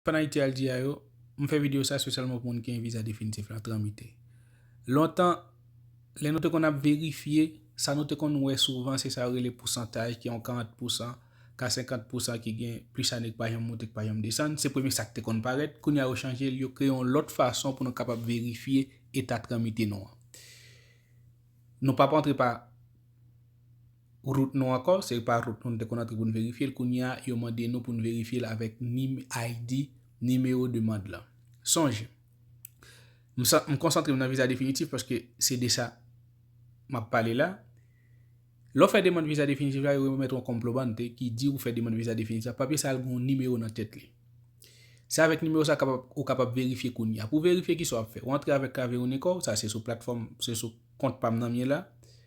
Fan Ayiti al di a yo, m fè video sa spesyalman pou moun ki gen viza definitif la tranmite. Lontan, lè nou te konn ap verifye, sa nou te konn wè souvan se sa yo rele pousantaj ki yon 40 pousan, ka 50 pousan ki gen plis ane ki pa janm moute ki pa janm desann, se premye sa ki te konn parèt, kounye a yo chanje l, yo kreye yon lòt fason pou nou kapab verifye eta tranmite nou an. Nou p ap antre pa. Rout nou ankò, se pa rout nou te konn antre pou n verifye l kounye a yo mande nou pou n verifye l avèk nim ID, nimewo demand lan. Sonje, m sa m konsantre m nan viza definitif paske se de sa m ap pale la. Lè w fè demand viza definitif la yo remèt ou yon konplobante ki di ou fè demand viza definitif la, papye sa l gen yon nimewo nan tèt li. Se avèk nimewo sa kapab ou kapab verifye kounye a. Pou w verifye kisa w ap fè? Ou antre avèk klavye Unicor w, sa se sou platfòm, se sou kont pa m nan m ye la.